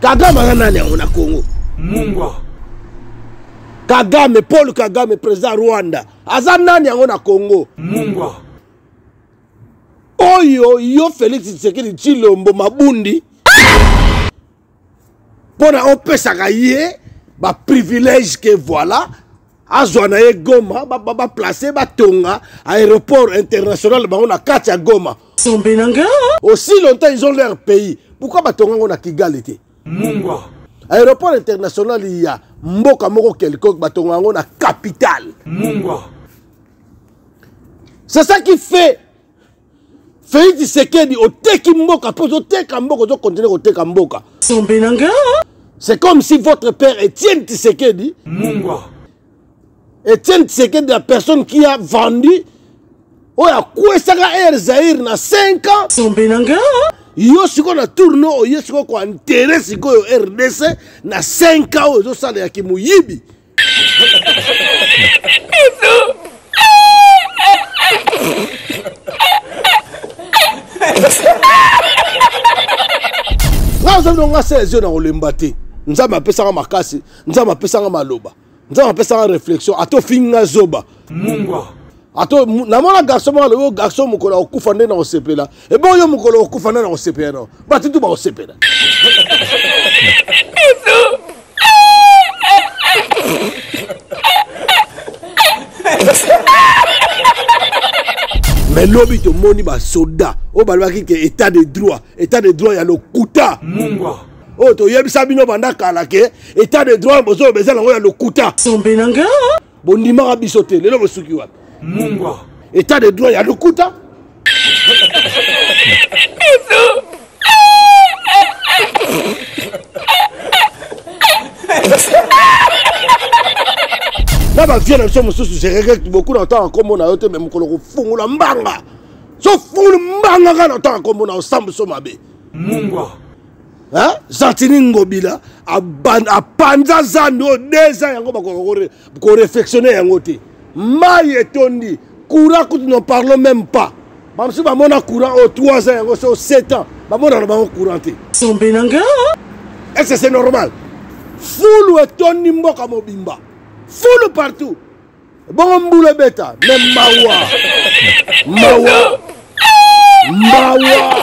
kagame aza nani yango na congo mungwa kagame paul kagame président ya rwanda aza nani yango na congo mungwa oyo yo félix tshisekedi tshilombo mabundi mpo na opesaka ye baprivilège ke voilà azwa na ye goma baplace batonga aéroport international bango na kati ya goma sombe na nga aussi longtemps ils ont leur pays pourquoi batonga yango na kigali te mungwa aéroport international ya mboka moko quelconque batonga yango na capitale mungwa c'est ça qui fait Félix Tshisekedi oteki mboka mpo ozoteka mboka ozokontinue koteka mboka sombe na nga c'est comme si votre père Étienne Tshisekedi mungwa Étienne Tshisekedi la personne qui a vendu oyo akwesaka air Zaïre na 5 ans sombe na nga yo sikoyo na tourno oye sikoyo koantere sikoyo rdc na 5 ans oyo ezosala ya kimoyibi nga ozobi no nga se ezio na kolemba te nzambe apesanga makasi nzambe apesanga maloba nzambe apesanga réflexion ata ofingi nga zoba mungwa ato namona garçon moko alobi oh, garçon mokolo akokufa nde na kosepela ebe oyo mokolo okokufa nde na kosepela no bato tu bakosepela me lobi tomoni basoda oyo balobaki ke état de droit état de droit ya lokuta mungwa oyo toyebisa bino banda kala ke état de droit bozoloba eza nango ya lokuta sombe na nga bondimaka biso te lelo bosuki wapi mungwa état de droit ya lokuta na bavie na biso mosusu je regrette beaucoup na ntango nkombo na yo te me mokolo kofungola mbanga so fungoli mbanga kaka na ntango nkombo na yo sambuso mabe mungwa hein? gentini ngobila apanza zando oyo deux ans yango bakoka korefectionne yango te mai etondi courant kutu ne parlons même pas bamosusu bamona courant oyo 3 ans yango so 7 ans bamonana bango courant te sombe na nga est ce c'est normal fulu etondi mboka mobimba fulu partout bongo mbula ebeta me mawa mawa mawa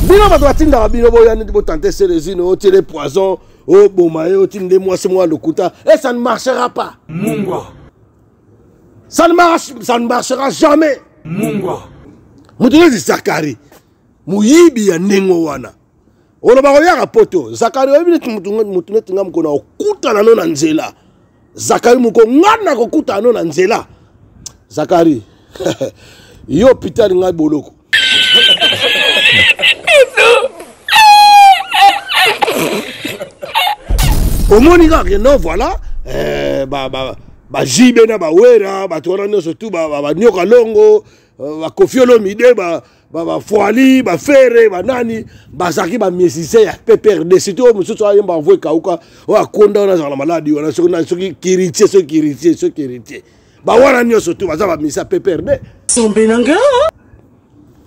bino bato batindaka bino boya neti botante selezine otiele poison oboma ye otindi nde mwasi mwa lokuta e ça ne marchera pas mungwa ça ne, marche, ça ne marchera jamais mungwa moto neti zakari moyibi ya ndenge wana olobaka oyaka poto zakari oyebi neti motu neti nga mokona okutana no na nzela zakari moko nga nakokutana no na nzela zakari yo pitali ngai boloko omoni kaka no voilà eh, ba, ba, ba jibe na bawera bato wana nyonso tu banioka longo euh, bakofi olomide bafuali ba, ba bafere banani bazalaki bamiesise ya pprd surtout oyo mosusu ayemba envoi ekauka oyo akonda wana azalaka na maladi wana soki kiritie soki kiritie soki kiritie bawana nyonso tu baza bamisi ya pprd sombe na nga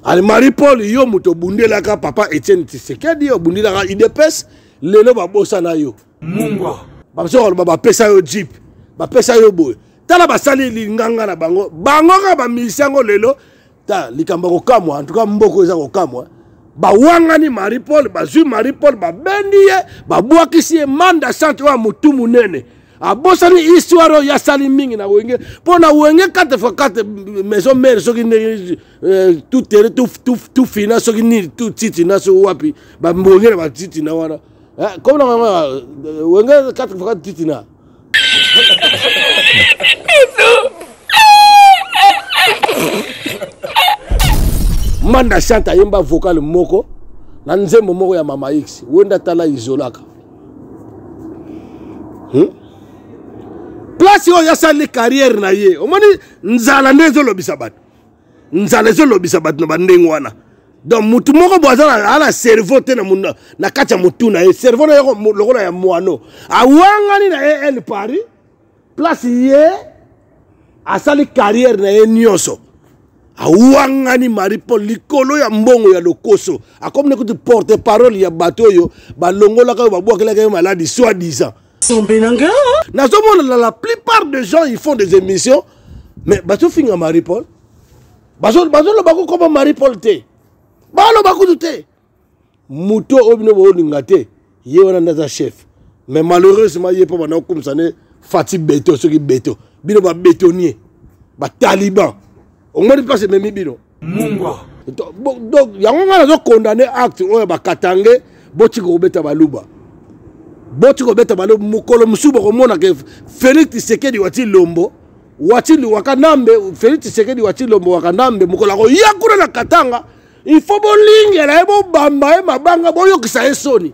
ale marie paul yo moto obundelaka papa etienne tisekedi obundelaka idps lelo babosana yo mungwa bazoka loba bapesa yo jeep bapesa yo boye tala basali linganga na bango bango kaka bamilisi yango lelo ta likambo ya kokamwa en tout cas mboko eza kokamwa bawangani marie paul bazwi marie paul babendi ye babwakisi ye manda centre oyo ya motu monene abosani histoire oyo asali mingi na wenge mpo na wenge 4 fois 4 maison mare soki ndenge euh, tout tere tout fina soki nini tout titina soki wapi bambongela batitina wana eh, comme na mama euh, wenge 4 fois titina manda chante ayemba vocal moko na nzembo moko ya mama x wenda tala izolaka hmm? place oyo asali carrière na ye omoni nzala nde ezolobisa bato nzala ezolobisa bato na bandenge wana donc motu moko bo aza na cerveau te na kati ya motu na ye cerveau na ye lokola ya mwano awangani na ye el paris place ye asali carrière na ye nyonso awangani marie paul likolo ya mbongo ya lokoso akomi na kutu porte parole ya bato oyo balongolaka oyo babwakelaka ye maladi soit disant sombe na nga nazomona na la plupart de gens ils font des émissions mais bazofinga marie paul bazoloba kokoma marie paul te baloba kutu te moto oyo bino bolinga te ye wana nde aza chef mais malheureusement ye mpo banda kokumisa ne fati beto soki beto bino babetonie bataliban omoni mpasi ememi bino mungwa donc yango ngai nazo condamne acte oyo bakatange botika kobeta baluba botika kobeta baluba mokolo mosusu bokomona ke félix tisekedi wati lombo wati liwaka nambe félix tisekedi wati lombo waka nambe mokolo akoya kuna na katanga il faut bolingela ye bobamba ye mabanga boyokisa ye soni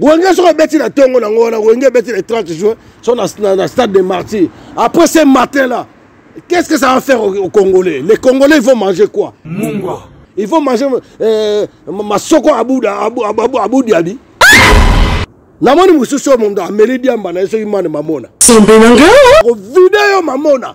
wenge soki obeti na ntongo nango wana wenge ebeti le 30 juin so na, na, na stade de martyr après ce matin là qu'est ce que ça va faire aux, aux congolais les congolais ils vont manger quoi mungwa ils vont manger euh, masoko abuda abu, abu, abu, abu diabi namoni mosusu oyo mondo ameli diamba na ye soki mane mamona sembe na ngai okovide yo mamona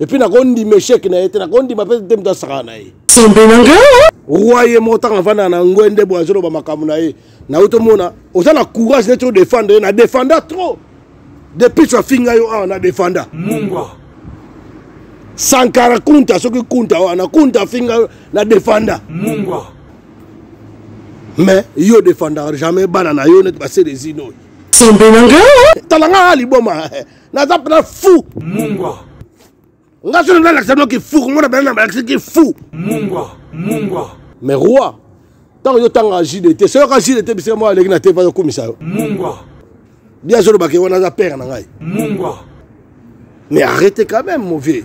epuis nakondima echec na ye te nakondima mpe te moto asakana na ye sembe na nga roi ye moko ntango avandaka na ngwe nde boye azoloba makambo na ye nayo tomona oza na courage neti odefendre ye na defenda trop depuis afinga yo awa na defenda mungwa sankara kunta soki kunta wana kunta afinga yo na defenda mungwa mais yo defendaka jamais bana na yo neti baselezino sembe na nga talanga liboma naza mpena fou mungwa nga soki nalakisa bino kifu komona bana na balakisi kifu mungwa mungwa mais roi ntango yo otanga jde te soyoka jde te bisika moko aleki na te vaza okumisa yo mungwa bia azolobaka ye wana aza pere na ngai mungwa mais arrete quand même mon vieux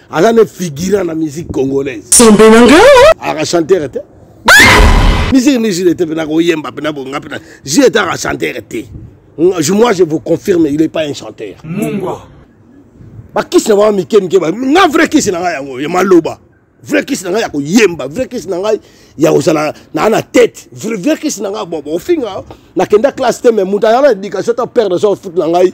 aza ne figurant na musique congolaise sembe na nga aka chantere te musique ni jile te mpe nakoyemba mpe nabonga mpe jile te aka chantere te moi je vous confirme il est pas un chanteur mungwa bakisi na bango mike mike nga vrai kisi na ngai yango ya maloba vrai kisi na ngai ya koyemba vrai kisi na ngai ya kozala naa na tete vrai kisi na ngai bobo ofinga nakenda classe te mais moto ayala na éducation to père de son foot na ngai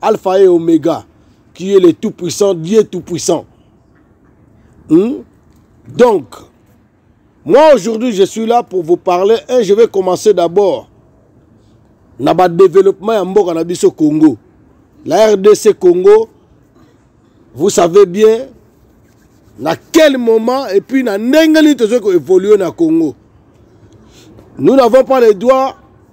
Alpha et Omega, qui est le Tout-Puissant, Dieu Tout-Puissant. Hmm? Donc, moi aujourd'hui, je suis là pour vous parler et je vais commencer d'abord na ba développement ya mboka na biso Congo. La RDC Congo, vous savez bien na quel moment et puis na ndenge nini tozoki koévolue na Congo. Nous n'avons pas le droit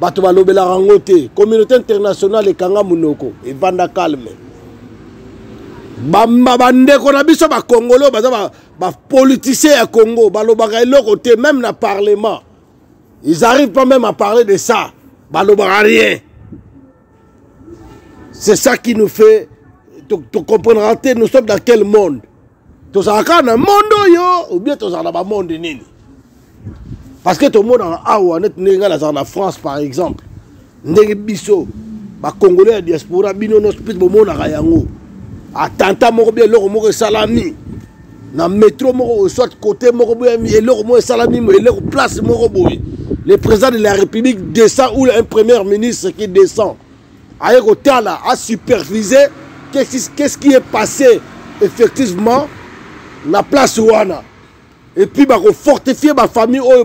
bato balobelaka yango te communauté internationale ekanga monoko evanda calme bandeko na biso bakongole oyo baza bapoliticien ya congo balobaka eloko te même na parlement ils arrivent pas même à parler de ça balobaka rien c'est ça qui nous fait tocomprendra te nous sommes dans quel monde tozala kaka na monde oyo ou bien tozala na bamonde nini parce que tomonaka awa neti ndenge ngai nazala na france par exemple ndenge biso bacongolais ya diaspora bino nyonso mpe bomonaka yango atanta moko bia eloko moko esalami na metro moko soit côté moko boye eloko moko esalami eloko place moko boye le président de la république descend ou un premier ministre qui descend aye kotala a superviser qu'est-ce qui est passé effectivement na place wana et puis bakofortifie bafamille oyo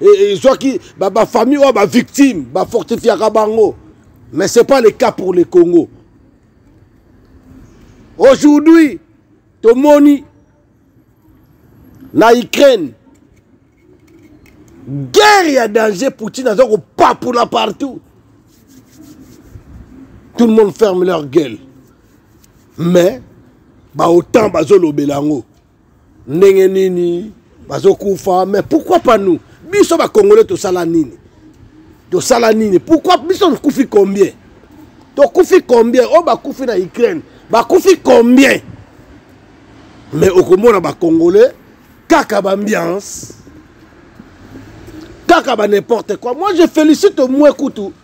ezwaki bafamille oyo bavictime bafortifiaka bango mais c'est pas le cas pour le congo aujourd'hui tomoni na ukraine guerre ya danger poutine aza kopapula partout tout le monde ferme leur gueule mais baotan bazolobela yango ndenge nini bazokufa mais pourquoi pas nous biso bakongole tosala nini tosala nini pourquoi biso tokufi combien tokufi combien oyo oh, bakufi na ukraine bakufi combien mais okomona bacongolais kaka bambiance kaka ba n'importe quoi moi je félicite moi kutu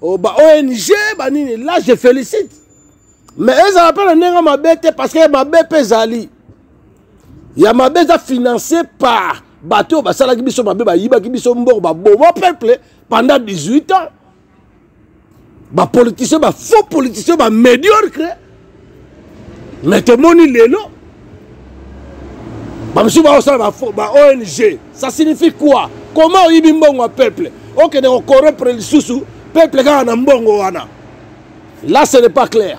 oh, ba ong banini là je félicite mais ezala mpe na ndenge mabe te parce que mabe mpe ezali ya mabe eza financé par bato oyo basalaki biso mabe bayibaki biso mbongo baboma peuple pendant 18 ans bapoliticien bafaux politicien bamédiocre mais tomoni lelo bamosusu baosala ba ong ça signifie quoi comment oyibi mbongo ya peuple okende kokorompre lisusu peuple kaka na mbongo wana là ce n'est pas clair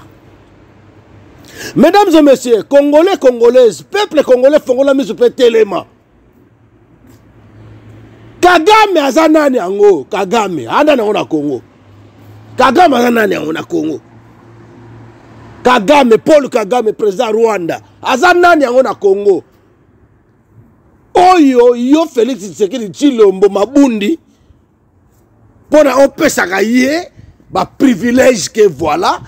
mesdames et messieurs congolais congolaise peuple congolais fongola miso mpe telema kagame aza nani yango kagame anda nango na congo kagame aza nani yango na congo kagame paul kagame président rwanda aza nani yango na congo oyo yo félix tshisekedi tshilombo mabundi mpo na opesaka ye baprivilège ke voilà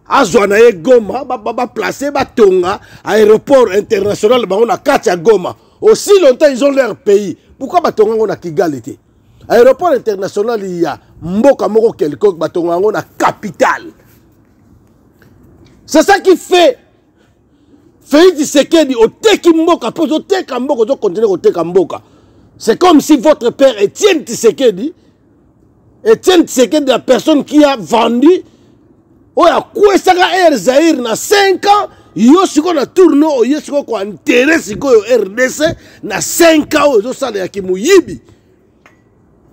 azwa na ye goma baplace ba, ba batonga aéroport international bango na kati ya goma aussi longtemps ils ont leur pays pourquoi batonga yango na kigali te aéroport international ya mboka moko quelconque batonga yango na capitale c'est ça qui fait Félix Tshisekedi oteki mboka mpe ozoteka mboka ozokontinue koteka mboka c'est comme si votre père Etienne Tshisekedi Etienne Tshisekedi la personne qui a vendu oyo akwesaka air Zaïre na 5 ans yo sikoyo na tourno oye sikoyo koentere sikoyo rdc na 5 ans oyo ezosala ya kimoyibi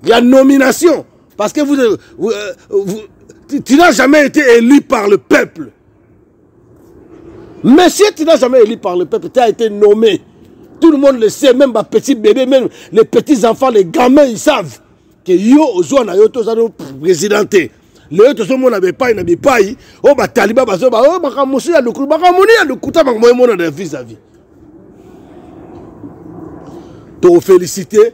Il y a nomination. Parce que vous, euh, vous, euh, vous tu n'as jamais été élu par le peuple. Monsieur, tu n'as jamais élu par le peuple. Tu as été nommé. Tout le monde le sait, même ma petite bébé, même les petits enfants, les gamins, ils savent que yo, ozo na yo, tous nos présidentés. lelo tozomona bipai na bipai oyo oh, bataliba bazoba oyo oh, makambo mosusu ya lokulu makambo moni ya lokuta makambo emonana ya vis a vis tokofélicité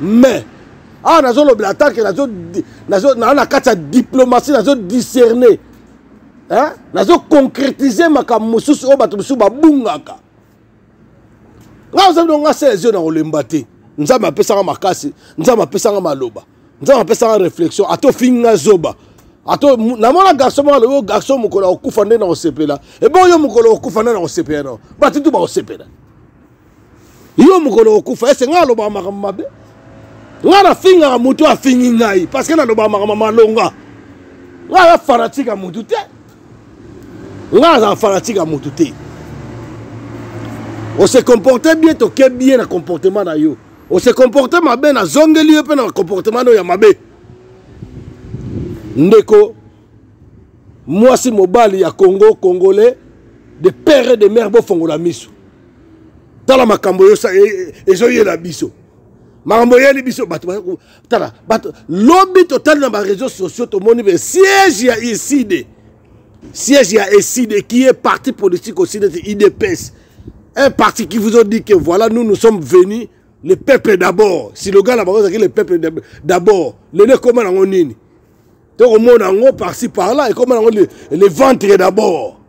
mais awa ah, nazolobela atake naa na kati ya diplomatie nazodiscerne nazoconcrétise makambo mosusu oyo bato mosusu babungaka ngai ozabi dongo ngai sele zio na kolemba te nzambe apesaka makasi nzambe apesaka maloba nzambe apesaka réflexion ata ofinga zoba ato namona garçon moko alobi garçon mokolo akokufa nde na kosepela ebongo yo mokolo okokufa nde na kosepela nao bato tu bakosepela yo mokolo okufa ese ngai alobaka makambo mabe ngai nafingaka motu afingi ngai parceke nalobaka makambo malonga ngai aza fanatike ya motu te ngai azala fanatike ya motu te ose comporte bien toke bien na comportement na yo ose comporte mabe nazongeli yo mpe na comportement nayo ya mabe ndeko mwasi mobali ya congo congolais de père et de mère bofongola miso tala makambo ezoyela biso makambo oyeli biso bato tala bato lobi totali na bareseau sociaux tomoni be siège ya iside siège ya eside qui est parti politique aussi neti idps un parti qui vous ont dit que voilà nous nous sommes venus le peuple d'abord siloga na bango ezalaki le peuple d'abord lelo ekoma nango nini tokomona yango parci parla ekoma yango le, le ventre d'abord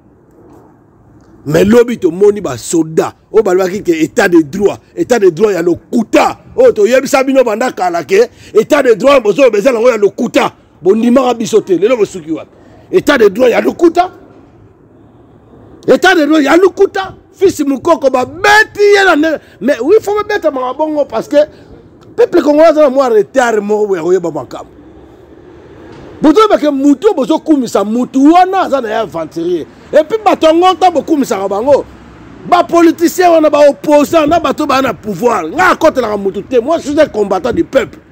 mais lobi tomoni basoda oyo balobaki ke état de droit état de droit ya lokuta oyo toyebisa bino banda kala ke état de droit bozoloba eza nango ya lokuta bondimaka biso te lelo bosuki wapi état de droit ya lokuta etat de droit ya lokuta fils mukoko babeti ye na ndenge mais oui fo babetamaka bongo parce que peuple congolais aza na mwa retard moko boye akoyeba makambo bozoyebake motu oyo bozokumisa motu wana aza na ye aventurier epuis bato yango ntango bokumisaka bango bapoliticien wana baopposant na bato baa na pouvoir ngai akotelaka motu te moi je suis un combattant du peuple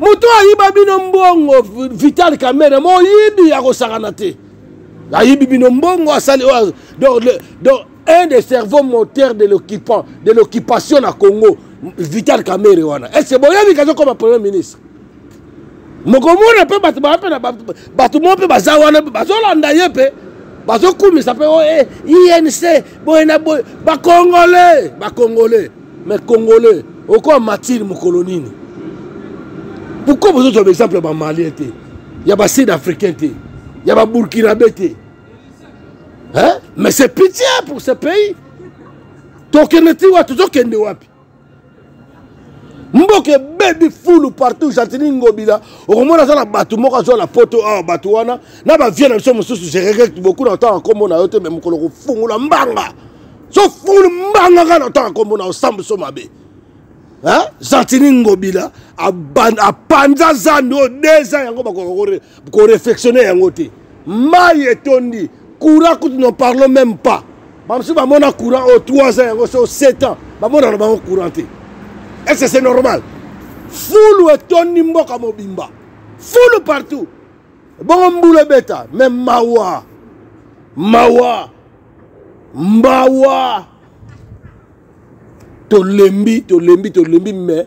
moto ayiba bino mbongo vital kamere moyibi ya kosakana te ayibi bino mbongo asali oyo donc un des cerveaux moteur de l'occupant de l'occupation na congo vital kamere wana ese boyebi kazokoma premier ministre mokomona mpe bato baa mpe na bato moko mpe baza wana mpe bazolanda ye mpe bazokumisa mpe o oh, eh, inc boye na boye bakongole bakongole mais congolais okoa matire mokolo nini pourkoi bozozwa baexemple ya bamalien te ya basud africain te ya baburkinabe te hein? mais c'est pitié pour ce pays tokende ti wapi tozokende wapi mboka ebebi fulu partout gentini ngobila okomona aza na bato moko azwa na poto awa bato wana na bavie na biso mosusu je regrette beaucoup na ntango nkombo na yo te me mokolo kofungola mbanga sofulu mbanga kaka na tanga kombo na osambuso mabe gentini ngobila apanza zambi oyo deza yango bakoka korefectionne yango te mai etondi courant kutu ne parlons même pas bamosusu bamona courant oyo 3 ans yango so 7 ans bamonana bango courant te est ce que c'est normal fulu etondi mboka mobimba fulu partout bongo mbula ebeta me mawa mawa mbawa tolembi tolembi tolembi me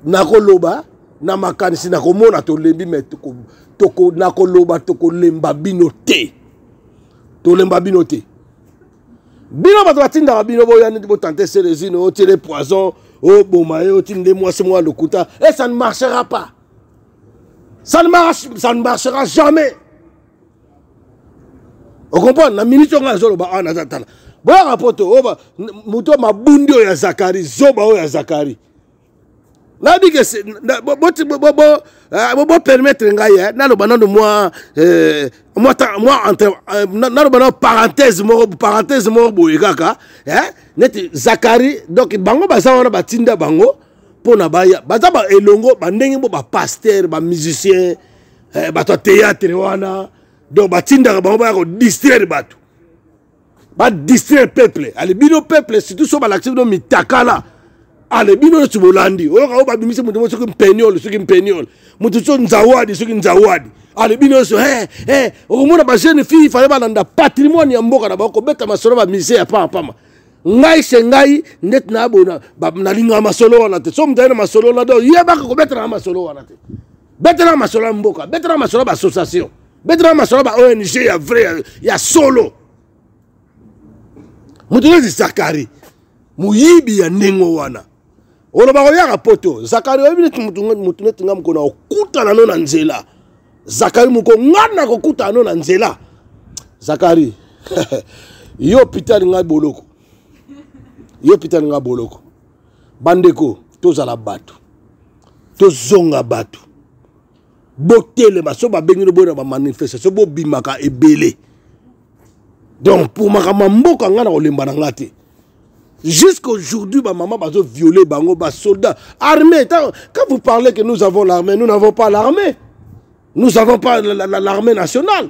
nakoloba na makanisi nakomona tolembi me toko, toko, nakoloba tokolemba bino te tolemba bino te bino bato batindaka bino boya neti botante selezine otiele poison oboma ye otinde mwasi mwa lokuta e eh, ça ne marchera pas ça ne, marche, ça ne marchera jamais okomprendre na miniti oyo ngai nazoloba awa naza tala boyaka poto oyo moto mabundi oyo ya zakari zoba oyo ya zakari nayebi ke bopermettre eh, ngai eh, naloba nano mwa eh, naloba nano parenthèse moko parenthèse moko boye kaka neti zakari donc bango baza wana batinda bango mpo na baya baza elongo bandenge mpo bapaster bamusicien eh, bato ya théâtre wana donc batindaka bango baya kodistraire bato badistraire peuple ale bino peuple surtout so balakisi bino mitakala ale bino nyonso bolandi oyoka oyo babimisi moto mo soki mpeniole soki mpeniole moto so nzawadi soki nzawadi ale bino nyonso he he okomona bajeune fille fale balanda patrimoine ya mboka na bango kobeta masolo bamise ya pama pama ngai se ngai ndeti nayabona nalingaka masolo wana te so moto aye na masolo wana te oyebaka kobetana na masolo wana te betelaka masolo ya mboka betelaka masolo ya baassociation betelaka masolo ya ba ong ya vrai ya, ya solo moto neti zakari moyibi ya ndenge wana oloba koyaka poto zakari oyebi neti moto neti nga mokona okutana no na nzela zakari moko nga nakokutana no na nzela zakari yo pitani ngai boloko yo pitani ngai boloko bandeko tozala bato tozonga bato botelema so babengi no boyena bamanifestation bobimaka ebele donc pour makambo ya mboka ngai na kolemba na ngai te jusqu'à aujourd'hui bamama bazo viole bango basoldat armée quand vous parlez que nous avons l'armée nous n'avons pas l'armée nous avons pas l'armée nationale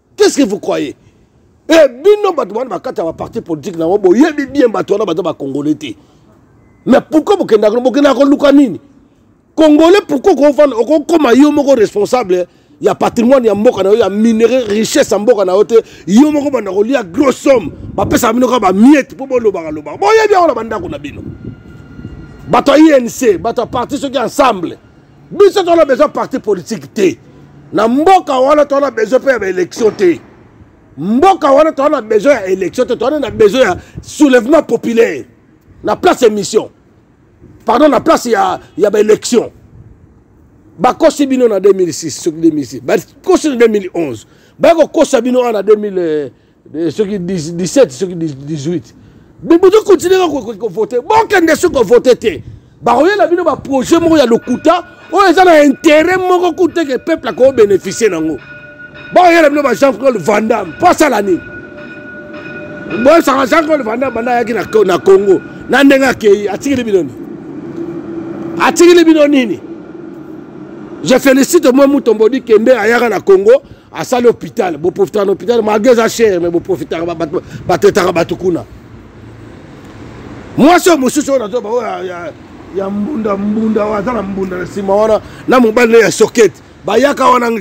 qu'est-ce que vous croyez e eh, bino bato wana bakati ya baparti politike na yango boyebi bien bato wana baza bacongolais te mais pourkoi bokendaka bokendaka koluka nini congolais pourkoi okofanda okokoma yo moko responsable ya patrimoine ya mboka na yo ya minerai richesse ya mboka na yo te yo moko banda kolia gros somme bapesaka bino kaka bamiete mpo bolobaka lobaka boyebi yango na bandako na bino bato ya inc bato ya parti soki ensemble biso tona besoin parti politique te na mboka wana tona besoin mpe ya baélection te mboka wana toza na besoin ya élection te toza na besoin ya soulèvement populaire na place ya mission pardon na place ya, ya baélection bakosi bino na 2006 soki 2006 bakosi na 2011 baya kokosa bino wana na 2000 Eh, soki 17 soki 18 bozo continue kaka kovote bokende soki kovote te bakoyela bino baprojet moko ya lokuta oyo eza na intérêt moko kuteke peuple akobénéficie nango bakoyela bino ba jean claude vandam mpo asala nini boyebisaka jean claude vandam banda ayaki na congo na ndenge akei atikili bino nini atikili bino nini je félicite moi mutombo di kende ayaka na congo asali hôpital boprofitaka na hôpital malgre eza chere mais boprofitaka batetaka bato kuna mwasi oyo mosusu oyo nazoba oyo ya mbunda mbunda oyo aza na mbunda na nsima wana na mobali ne ya sokete bayaka wana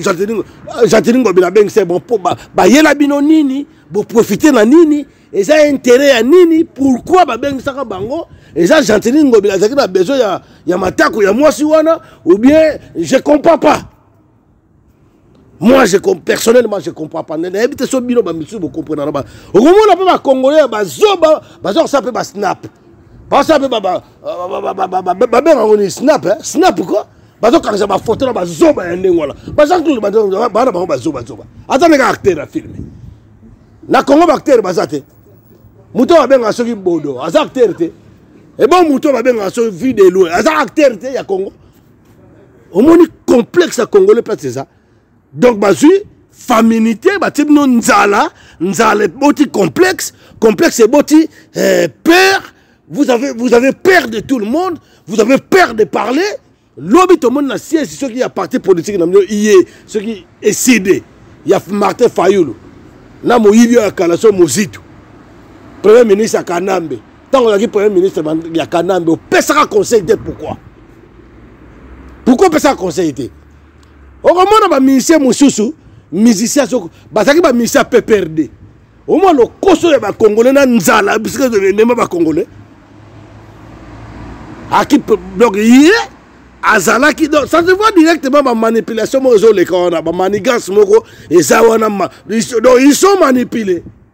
jatilingo bila bengisa bon mpo bayela bino nini boprofite na nini eza intérêt ya nini pourquoi babengisaka bango eza gentili ngobi azalaki na besoin ya, ya matako ya mwasi wana ou bien je comprends pas moi je personnellement je comprends pas nayebi te so bino bamisusu bokomprenana ba okomona mpe bacongolais ya bazoba baza kosala mpe basnap basala mpe babenga yango nini snap snap ko bazokangisa bafoto na bazoba ya ndenge wana bajean claude bana bango bazobazoba aza ndenge acteur ya filme na congo baacteur baza te moto oyo babengaka soki bodo aza acteur te ebo moto oyo babengaka soki vie de loin aza acteur te ya congo omoni complexe ya congolais place eza donc bazwi faminité batie bino nzala nzala eboti complexe complexe eboti eh, peur vous avez, vous avez peur de tout le monde vous avez peur de parler lobi tomoni na siège soki ya parti politique na bino iye soki eside ya martin fayulu na moyibi oyo ya kala so mozito premier ministre ya kanambe ntango ozalaki premier ministre ya kanambe opesaka conseil te pourquoi pourquoi opesaka conseil te okomona bamusicien mosusu musicien bazalaki bamusicien ya pprd omwa lokoso ya bakongole na nzala bisika emema bakongole aki donc ye yeah. azalaki donc ça se voit directement bamanipulation moko ezoleka wana bamanigance moko eza wana donc ils sont manipule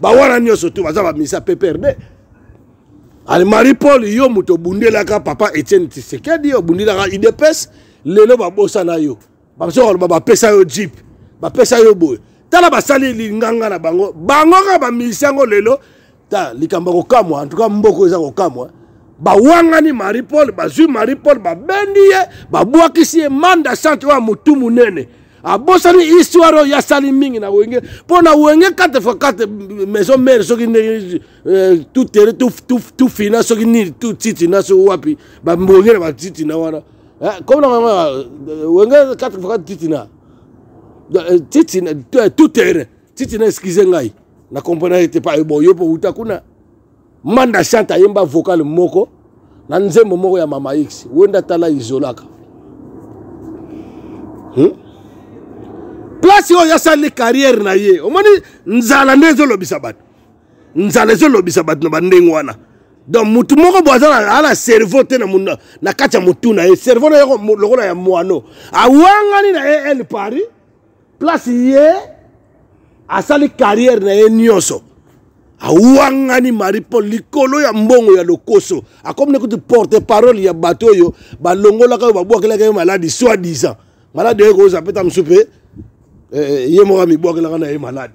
bawana nyonso tu baza bamisa pprd ale marie paul yo moto obundelaka papa etienne tisekedi obundelaka idps lelo babosana yo basoka bapesa yo jeep bapesa yo boye tala basali linganga na bango bango kaka bamilisi yango lelo ta likambo ya kokamwa en tout cas mboko eza kokamwa bawangani marie paul bazwi marie paul babendi ye babwakisi ye manda centre oyo ya motu monene abosani histoire oyo asali mingi na wenge mpo na wenge 4 fois 4 maison mare soki ndenge euh, tout tere tout fina soki nini tout titina soki wapi bambonge na batitina wana comme na euh, wenge 4 fois 4 titina euh, titina tout tere titina excuse ngai na comprendre te pa bon yo mpo uta kuna manda chante ayemba vocal moko na nzembo moko ya mama x wenda tala izolaka hmm? place oyo asali carrière na ye omoni nzala nde ezolobisa bato nzala ezolobisa bato na bandenge wana donc motu moko bo aza na cerveau te na kati ya motu na ye cerveau na ye lokola ya mwano awangani na el paris place ye asali carrière na ye nyonso awangani marie paul likolo ya mbongo ya lokoso akomi na kutu porte parole ya bato oyo balongolaka oyo babwakelaka ye maladi soit disant maladi oyo ekozwa mpe ta mosusu mpe eh, eh, ye moko amibwakelaka na ye maladi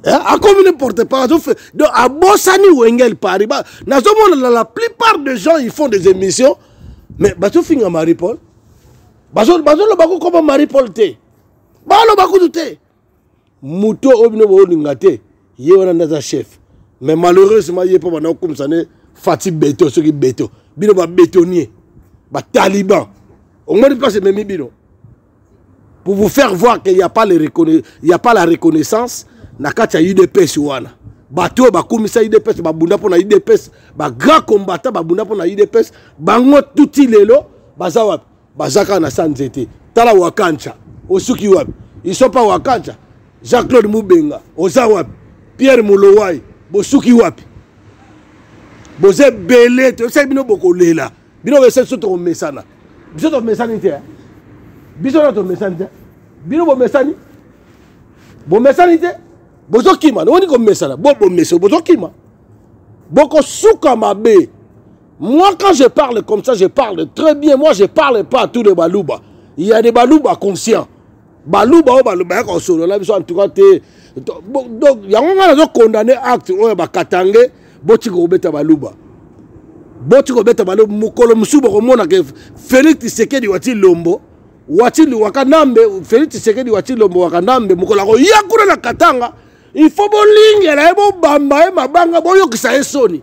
eh, akomi ne porte pas azofe donc abosani wengel paris ba, nazomona na la plupart de gens ils font des émissions mais bazofinga marie paul bazoloba kokoma marie paul te baloba kutu te moto oyo bino boolinga te ye wana nde aza chef mais malheureusement ye mpo banda kokumisa ne fati beto soki beto bino babetonier bataliban omoni mpasi ememi bino pour vous faire voir qu'il n'y a, pas le reconna... a pas la reconnaissance na kati ya udps wana bato oyo bakumisa udps babunda mpo na udps bagrand combattant babunda mpo na udps bango tuti lelo baza wapi baza kaka na sa nzete tala wakancha osuki wapi isopa wakancha jean claude mubenga oza wapi pierre molowai bosuki wapi boza ebele toyebisaki bino bokolela bino bese biso tokomesana biso tomesani te biso na tomesani te bino bomesani bomesani te bozokima nowoni komesana bo bomesani bozokima bokosuka mabe moi quand je parle comme ça je parle très bien moi je parle pas à tous les baluba il y a des baluba conscients baluba oyo bayaka kosolo na biso antuka te donc yango ngai nazo condamne acte oyo bakatange botika kobeta baluba boti kobeta balo mokolo mosusu bokomona ke félix tisekedi wati lombo wati wakanambe félix tisekedi wati lombo wakanambe mokolo akoya kuna na katanga il faut bolingela ye bobamba ye mabanga boyokisa ye soni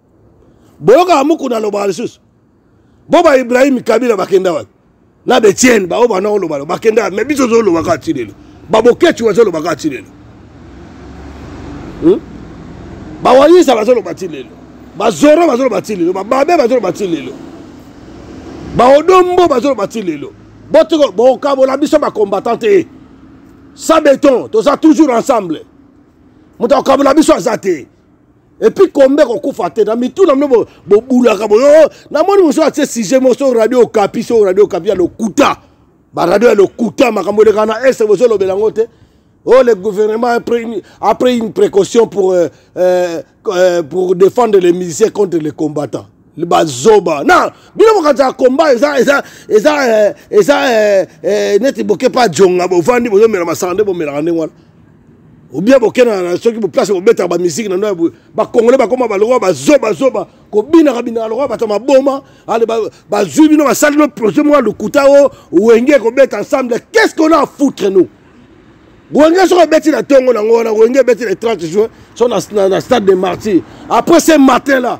boyokaka mukuna alobaka lisusu bo ba ibrahim kabila bakenda wapi na betiene baoyo bana olobalo bakenda wapi me biso tozoloba kaka ti lelo babokeci bazoloba kaka ti lelo hmm? bawayisa bazoloba ti lelo bazoro bazoloba ti lelo bababe bazoloba ti lelo baodombo bazoloba ti lelo bokabola biso bacombattant te sa beton toza toujours ensemble moto akokabola biso aza te epuis kombe ekokufa te na mitu na bino bobulaka boyo oh, namoni mosusu atie sujet moko soki radio okapi soki radio okapi ya lokuta baradio ya lokuta makambo eleka na este bozolobela yango te Oh, le gouvernement a pris une, a pris une précaution pour, euh, euh, euh pour défendre les musiciens contre les combattants. bazoba na bino mokanisa ya komba eza eza eza eh, eza eh, eh, neti boke mpe ajonga bovandi bozomela masanga nde bomelaka ndenge wana obien bokenda soki boplace bobetaka bamiziki na no bakongole bakoma balokwa bazobazoba kobinaka binaka lokwa bato maboma ale bazwi bino basali no projet moko ya lokuta o wenge ekobeta ensemble qu'est ce qu'on a foutre nous wenge soki obeti na ntongo nango wana wenge ebeti le 30 juin so na stade de martyr après ce matin là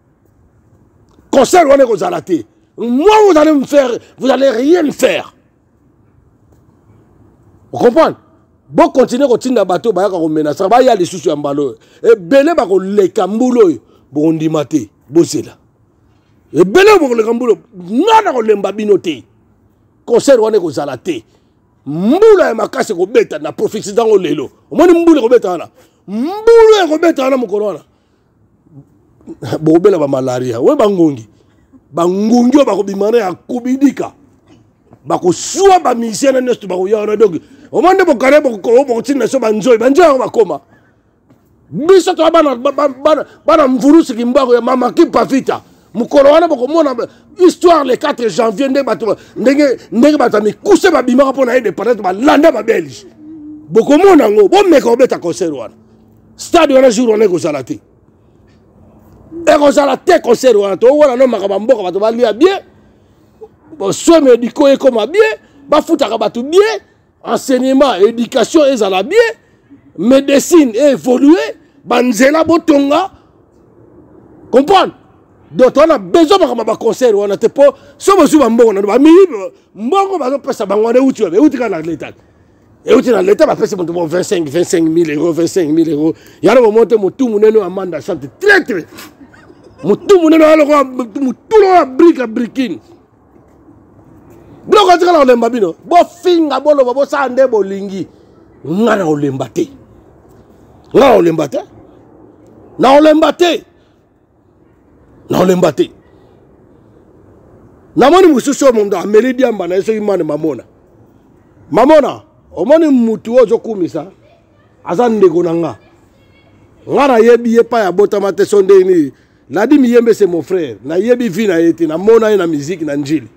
concert wana ekozala te moi vous allez me faire vous allez rien me faire okomprendre bokontinue kotinda bato oyo bayaka komenasa baya lisusu ya mbala oyo ebele bakoleka mbula oyo bokondima te bozela ebele oyo bokoleka mbula nga na kolemba bino te concert wana ekozala te mbula ya makasi ekobeta na profesi ntango lelo omoni mbula ekobeta wana mbula ekobeta wana mokolo wana bokobela bamalaria oyo bangongi bangongi oyo bakobima na ya kobidika bakosua bamisien na nyonso bakoya wana donk omoi nde bokare bokotinda biso banzoi banzoi yango bakoma biso toa bana mvurusi kimbango ya mama kipavita mokolo wana bokomona histoire le 4 janvier ndenge bato ndenge bato ya mikuse babimaka mpo na independance balanda babelge bokomona yango bomeka kobeta concert wana stade wana jour wana ekozala te ekozala te concert wana towana no makambo ya mboka bato balia bie soin médicaux ekoma bie bafutaka bato bie enseignement éducation ezala bie médecine eévolue banzela botonga comprendre donc towana besoin makambo ya baconcert wana te mpo so bozwi bambongo nano bamiyibi mbongo bazopesa bango wana euti wapi euti kaka na leta euti na leta bapesi moto mo 25 25000 euro 25000 euro yango bomoi te motu monene oyo amanda sante traitre motu monene oyo lokola motu lokola brika brikine biloko atikala kolemba bino bofinga boloba bosala nde bolingi nga na olemba te nga na olemba te na olemba te naolemba te namoni mosusu oyo moto ameli diamba na ye soki mane mamona mamona omoni mutu oyo ozokumisa aza ndeko na nga nga nayebi ye epai abotama te so ndenge nini ladi miyembe se mon frère nayebi vi na ye te namona ye na miziki na njili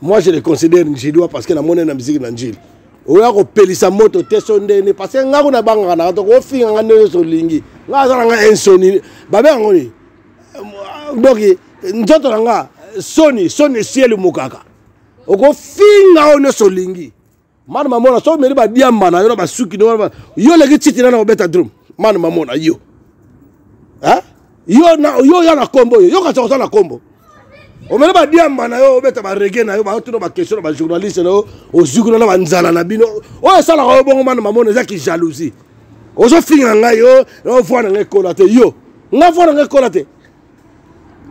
moi je le considère njidois parce que namoni na miziki na njili oya kopelisa moto te so ndene parce que ngai kuna bangaka naka toko ofinga ngai ndenge nyonso olingi ngai aza na ngai insoni babe yango ni donc nzoto na ngai soni soni esieli mokaka okofinga oyo nyonso olingi manu mamona soki omeli badiamba na yo na basuki no yo oleki titi na na kobeta drum manu mamona yo eh? yo na yo ya na kombo oyo yo kasi oza na kombo omele badiamba na yo obeta barege na yo baotuna baquestion na bajournaliste na yo ozikuna na banzala na bino oyo esalaka yo bongo mana mamona eza kijalousie ozofinga ngai yo voi na ngai ekola te yo ngai voi na ngai ekola te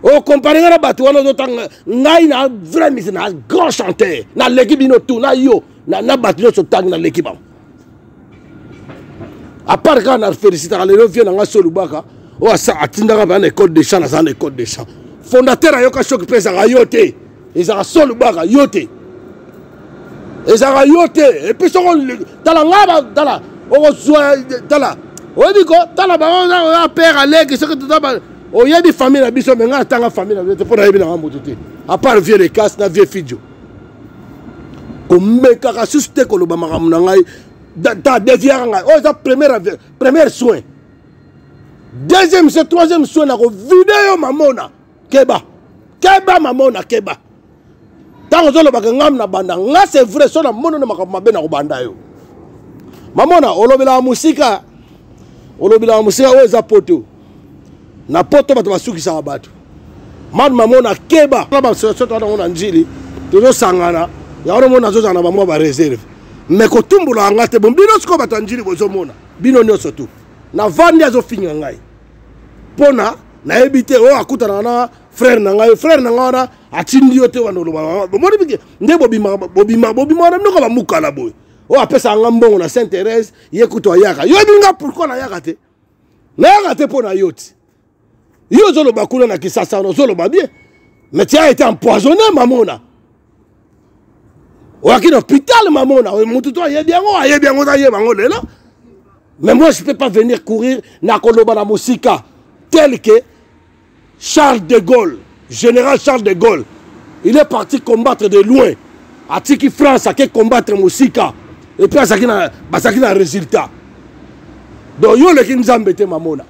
okompare nga na bato wana ozotanga ngai na vrai misi na grand chanteur naleki bino tout na yo na bato nyonso ntangi naleki bango apart kaka na félicitaka lelo vie na ngai so olubaka oyo atindaka bana na école de champ naza na école de champ fondateur ayoka soki mpe ezaka yo te ezalaka so lubaka yo te ezalaka yo te epuis soko tala ngai tala okozwa tala oyebi ko tala bango ya père aleki soki totaba oyebi famille na biso me ngai atanga famille na biso te mpo nayebi nanga moto te apart vieux lecas na vieux fidio komekaka susu te koloba makambo na ngai ta deviaka ngai oyo oh, eza première première soin deuxième se troisième soin nakovide yo mamona keba keba mama ona keba ntango ozolobaka ngam na banda nga c'est vrai so namono na makambo mabe na kobanda yo mamona olobelaka mosika olobelaka mosika oyo eza poto na poto bato basukisaka bato mad mamona keba na basoso toa nango na njili tozosangana yango nomona nazozala na bamwa bareserve me kotumbolaka nga te bon bino sikoyo bato ya njili bozomona bino nyonso tu navandi azofinga ngai pona nayebi te oyo oh, akutanaka na frère na ngai frère na ngai wana atindi yo te wana oloba bomoni bike nde bobimaka bobima bobima wana minoko bamukala boye oyo oh, apesaka nga mbongo na saint thérèse ye kutu ayaka yo yebi nga pourkui nayaka te nayaka te mpo na yo ti yo ozoloba kuna na kisasa wana ozoloba bien mais tia ete empoisonne mamona oyaki na hôpital mamona oyo motu to ayebi yango ayebi yango ozayeba yango lelo mais moi je peux pas venir courir nakoloba na mosika tel que charles de gaulle général charles de gaulle il est parti combattre de loin atiki france ake combattre mosika epuis azalaki na bazalaki na résultat donc yo oleki nzambe te mamona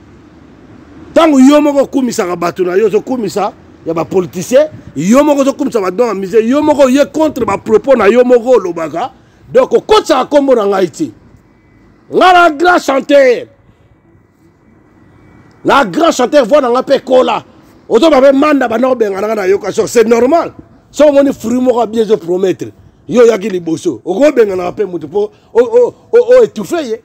ntango yo moko okumisaka bato na yo ozokumisa ya bapoliticien yo moko ozokumisa badon ya musée yo moko oye contre bapropos na yo moko olobaka donc okotisaka nkombo na ngai te ngai na grand chanteur na grand chanteur voi na ngai mpe ekola ozoba mpe manda banda kobengana ngai nayoka so c'est normal soki omoni fruit moko abie ezopromettre yo oyaki liboso okobenganaka mpe moto mpo oetufe ye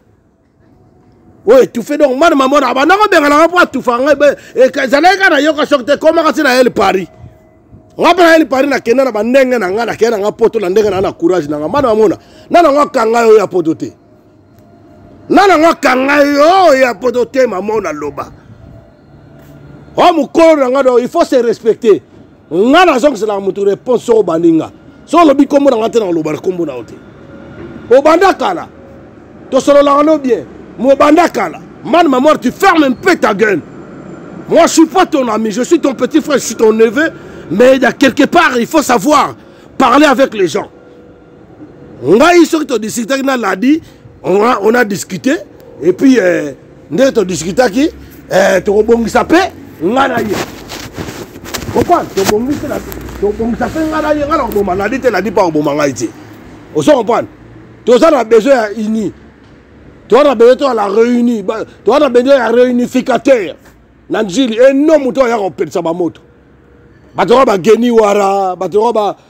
oyo etufe donc mwana mamona abanda kobenganaka mpo atufa ngai ezalaki kaka nayoka soki te ekomaka ti na ele paris nga mpe nayeli paris nakenda na bandenge na ngai nakenda na ngai poto na ndenge na na courage na ngai mba namona na nango akanga yo ya poto te na nango akanga yo ya poto te mamona loba o mokolo na ngai do il faut se respecter nga nazongiselaka motu réponse soko obandi nga so olobi nkombo na nga te nakolobana nkombo na yo te obanda kala tosololaka no bien mobanda kala man mamoire tu ferme un peu ta gueule moi je suis pas ton ami je suis ton petit frère je suis ton neveu mais il y a quelque part il faut savoir parler avec les gens ngai soki todiscutaki na ladi on a discuté et puis euh, nde todiscutaki euh, tokobongisa mpe ngai na ye comprendre tobongisi tobongisa mpe ngai na ye ngai na koboma ladi te ladi mpe akoboma ngai te ozo comprendre toza na besoin ya uni toza na besoin toya la réuni toza na besoin ya réunificateur na njili eno moto oyo aya kopelisa bamoto bato yango bageni wara bato yango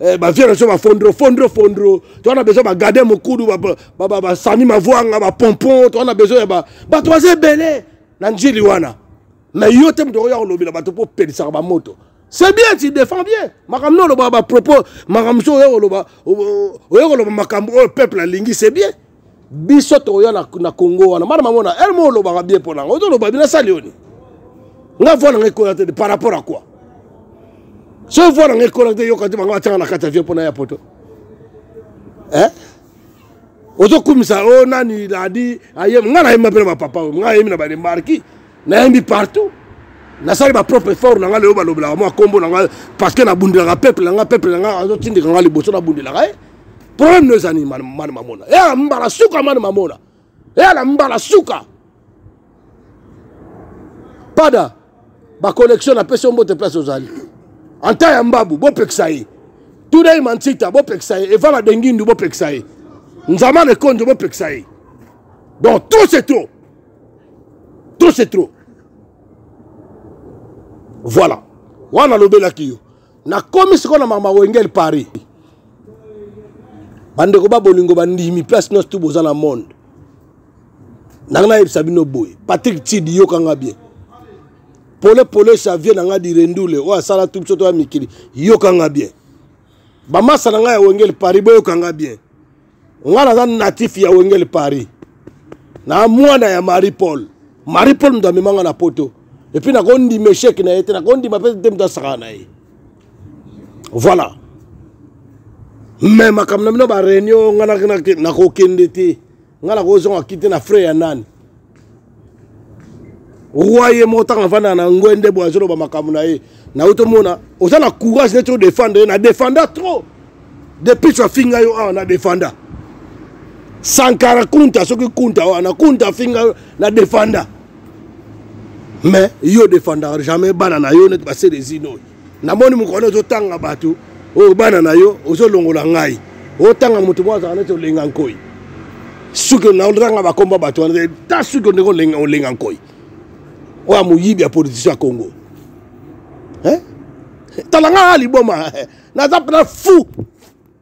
Eh, bavie na biso bafondro fondro fondro toza na besoin bagade mokudu basami mavuanga bapompon toza na besoin ya bato baza ebele na njili wana na yo te moto okoya kolobela bato mpo opelisaka bamoto c'est bien tu défends bien makambo no olobaka bapropos makambo so oya koloba oya koloba makambo oyo peuple alingi c'est bien biso toya na, na congo wana bana mamona ele mo olobaka bien mpo nanga ozoloba bina sali oni nga voi nanga ekola te par rapport à quoi so voi nanga ekola te yoka te bango batianga na kati avion mpo na ya poto eh? ozokumisa o oh, nani ladi ayemi nga nayemi mpe na bapapa oyo nga ayemi na bademarki nayembi partout nasali bapropre effort na ngai leyo balobelaka mwa nkombo na ngai parce que nabundelaka peuple na ngai peuple na ngai azotindika ngai liboso nabundelaka ye eh? problème no ezani mani mamona eya eh, mbala suka mani mamona eya eh, na mbala suka pada baconnexion napesi yo mbote place ozali anta ya mbabu bopekisa ye tudei mansita bopekisa ye evala dengindu bopekisa ye nzamana ekonjo bopekisa ye donc tout c'est tout trop c'est trop voilà wana alobelaki yo nakomi sikoyo na mama wengel paris bandeko ba bolingo bandimi place nyonso tu boza na monde nanga nayebisa bino boye patrik tid yokanga bien pole pole xavier na ngai direndule oyo asala tu biso toya mikili yoka ngai bien bamasa na ngai ya wengeli paris boyoka ngai bien nga naza natif ya wengele paris na mwana ya marie paul marie paul moto amemanga na poto epuis nakondima echec na ye te nakondima mpe te moto asakana na ye voilà me makambo na bino bareunion nga nakokende te nga nakozonga kite na frais ya nani roi ye moko ntango avandaka na ngoi nde boye azoloba makambo na ye nayo tomona oza na courage neti odefendre ye na defenda trop depuis tu afinga yo awa na defenda sankara kunta soki kunta wana kunta afinga yo na defenda mais yo defendaka jamais bana na yo neti baselezino oyo namoni mokona ozotanga bato oyo bana na yo ozolongola ngai otanga moto moko azalaka neti olenga nkoi suki naotanga bakomba bato wana ta suki ondenge olenga, olenga nkoi oyo amoyibi ya politician ya congo eh? tala ngaa liboma naza mpena fou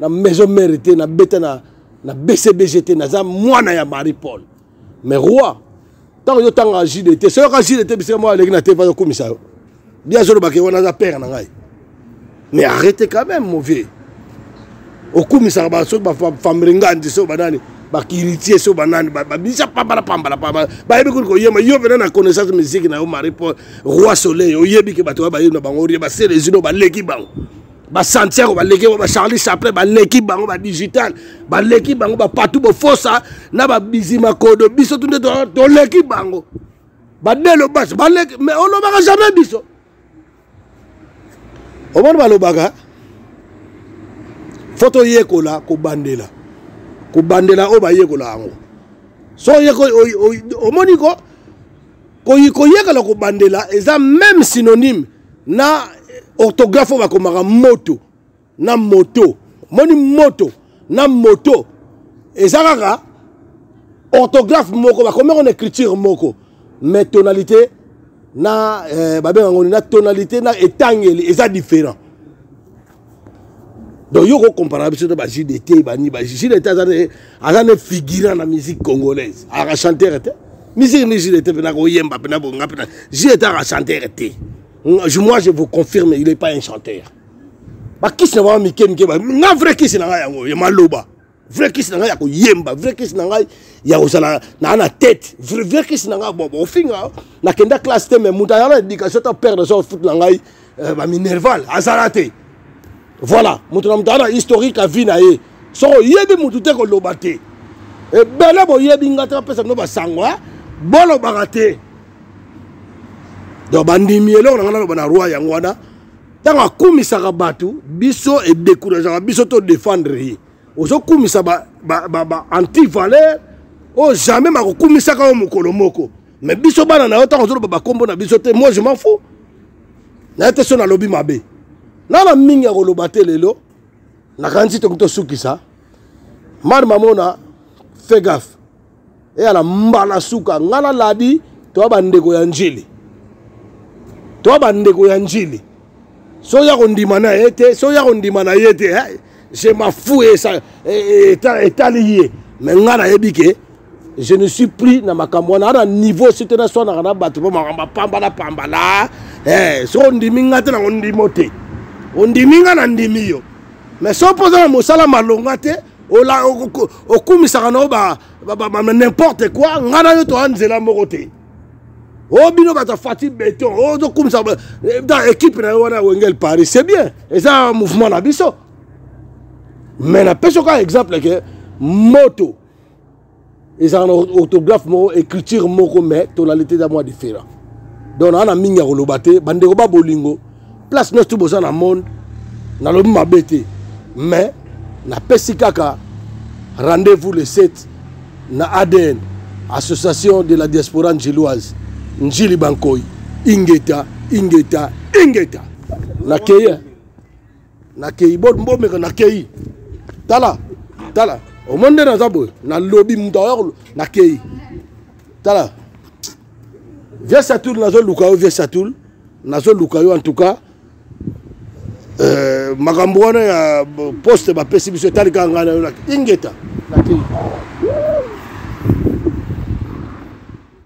na maison mère te na beta na na bcbg te naza mwana ya marie paul mais roi ntango yotanga jide te soki oka jide te bisika moko aleki na te mpa yokumisa yo bi azolobaka ye wana aza père na ngai mais arrete quand même mon vieux okumisaka basoki bafamre ngandi so banani bakiritie so banani babisa pambala pambala pambala bayebi kuli koyema yo pena na connaissance musique na yo marie paul roi soleil oyebi ke bato oyo bayebi na bango orie baselezino baleki bango ba santiago baleki bango ba charlie chaplin baleki bango ba digital baleki bango ba patou bofosa na ba bizima kodo biso tunde toleki bango badelo basi baleki mais olobaka jamais biso omoni balobaka fo toyekola kobandela kobandela oyo bayekola yango so omoni ko koyekola kobandela eza meme synonyme na orthographe oyo bakomaka moto na moto omoni moto na moto eza kaka orthographe moko bakomi yango na écriture moko mais tonalité na eh, babenga yango na tonalité na etangeli eza différent donc yo okokomparaka biso to bajide te bani bajide te aza ne figurant na musique congolaise aka chantere te musique ni jide te mpena koyemba mpena bonga mpena jide te aka chantere te moi je vous confirme il est pas un chanteur bakisi na bango mike mike nga vrai kisi na ngai yango ya maloba vrai kisi na ngai ya koyemba vrai kisi na ngai ya kozala naa na tete vrai kisi na ngai bobo ofinga nakenda classe te mais moto aza na éducation to père de son foot na ngai euh, baminerval azala te voilà moto na moto aza na historique ya vie na ye soko oyebi moto te koloba te ebele eh, boyebi ngai te bapesa bino basango eh? bolobaka te donc bandimi eloko na ngai naloba na roi yango wana ntango akumisaka bato biso edekurageaka biso to defendre ye ozokumisa baantivaleur oyo jamais bakokumisaka yo mokolo moko mais biso bana na yo ntango ozoloba bakombo na biso te moi je m'en fou naye te so nalobi mabe nana mingi akoloba te lelo nakanisi toki tosukisa mari mamona fegaf eya na mbala suka ngai na ladi toya bandeko ya njili toya bandeko ya njili so ya kondima na ye te so ya kondima na ye te je mafu e, e, e, etali ye me ngai nayebi ke je ne suis plus na makambo wana ana niveau si te naswanaka na bato mpo makambo apambala pambala eh, so ondimi ngai te nango ndimo te ondimi ngai na ndimi yo mais so mpoza na mosala malonga te okumisaka na yo ba, ba, ba, ba, n'importe quoi ngai na yo toya nzela moko te o oh, bino bato fati beton ozokumisa oh, eh, équipe na yo wana ya wengel paris c'est bien eza mouvement na biso mais napesi oka exemple ke moto ezalaka na orthographe moko écriture moko mais tonalité eza mwa différent donc naa na mingi ya koloba te bandeko ba bolingo place nyonso tu boza na monde nalobi mabe te mais napesi kaka rendez-vous le 7 na adn association de la diaspora njiloise njili bankoi ingeta ingeta ingeta nakeye nakeyi bomeka nakeyi tala tala omoni nde naza boye nalobi moto ayo nakeyi tala vie satul nazoluka yo vie satul nazoluka yo en tout cas euh, makambo wana ya poste bapesi biso etali kaka ngai na yo ingeta nakeyi